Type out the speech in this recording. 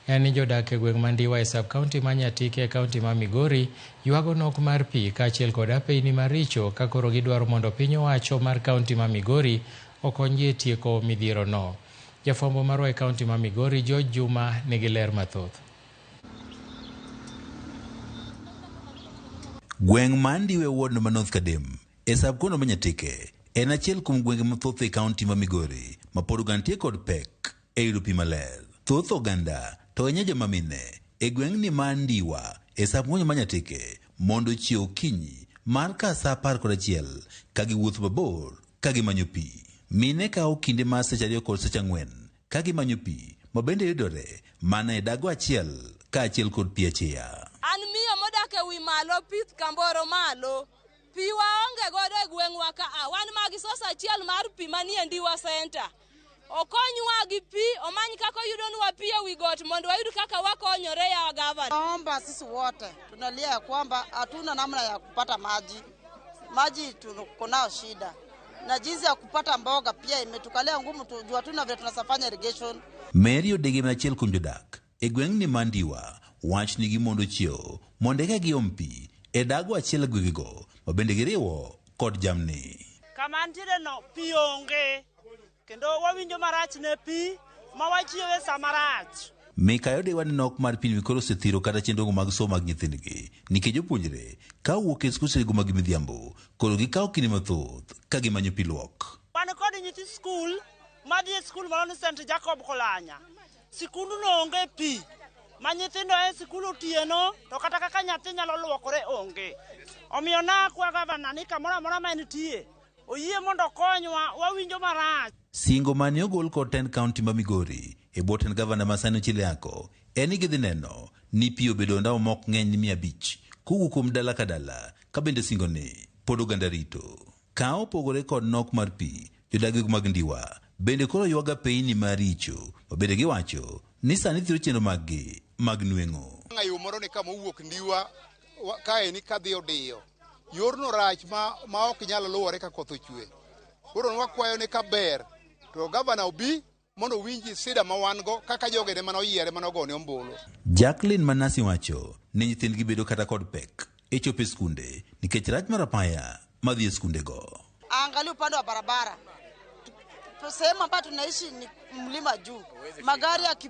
En ni jodak e gweng' Mandiwa e sub-county ma Nyatike e county ma Migori ywago nok mar pi kaachiel kod apeyni maricho ka koro gidwaro mondo piny owacho mar county ma Migori okonygi e tieko midhiero no. Jafwambo marwa e county ma Migori George Juma nigi ler mathoth. Gweng' ma Andiwa e ward no ma North Kadem e sub-county ma Nyatike en achiel kuom gwenge mathoth e county ma Migori ma pod gantie kod pek. E yudo pi maler, thoth oganda to enye joma mine e gweng' ni ma Ndiwa e sap ng'onyo ma Nyateke mondo chiew okinyi mar ka sa apar kod achiel ka giwuotho mabor ka gimanyo pi. Mine kawo kinde mar seche ariyo kod seche ang'wen ka gimanyo pi ma bende yudore mana e dago achiel ka achiel kod pi acheya. An miyo modak e wi malo pith Kamboro malo. Pi waonge godo e gweng'wa ka a wan magi sos achiel mar pi manie Ndiwa Center. Okonywa gi pi, omany kaka oyudonwa pi e wi got mondo wayud kaka wakonyore ya gavana. Naomba sisi wote tunalia ya kwamba hatuna namna ya kupata maji, maji tuko nao shida, na jinsi ya kupata mboga pia imetukalia ngumu, tujua hatuna vile tunasafanya irrigation. Mary Odege ma achiel kuom jodak E gweng' ni Mandiwa, wach ni gimondo chiewo mondo eka giom pi e dago achiel e gwegego ma bende giriwo kod jamni. Kama antiere no pi onge kendo wawinjo marach ne pi ma wachiewo e sa marach. Mikayi Odewa ni nok mar pini koro osethiro kata chenrogo mag somo mag nyithindgi nikech jopuonjre ka owuok e skundego mag midhiambo koro gikawo kinde mathoth ka gimanyo pi luok. Wan kod nyithi skul madhi e skul moro ni St Jacob Kolanya. Sikunduno onge pi ma nyithindo e sikul otieno, to kata kaka nyathi nyalo luokore onge. Omiyo nakwa gavana ni kamoro amora ma entie oyie mondo okonywa, wawinjo marach. Singo mane ogol kod tend kaunti ma Migori e bwo tend gavana ma sani Ochile Ako en ni gidhi neno ni pi obedo ondamo ma ok ng'eny ni mia abich kowuok kuom dala ka dala ka bende singo ni pod oganda rito. Ka opogore kod nok mar pi, jodagego mag Ndiwa bende koro ywaga peyni ma richo ma bende giwacho ni sani thiro chenro maggi mag nweng'o. Nga yo moro ni kama owuok Ndiwa wa- kae ni kadhi Odiyo. Yorno rach ma, ma ok nyal luwore ka koth ochwe. Koro wakwayo ni kaber to gavana obi mondo owinji sida ma wan-go kaka jogene mane oyiere mane ogone ombulu. Jacqueline Manasi wacho ni nyithindgi bedo kata kod pek e chopo e skunde nikech rach mar apaya madhi e skundego. Angalia upande wa barabara sehemu ambayo tunaishi ni mlima juu, magari yaki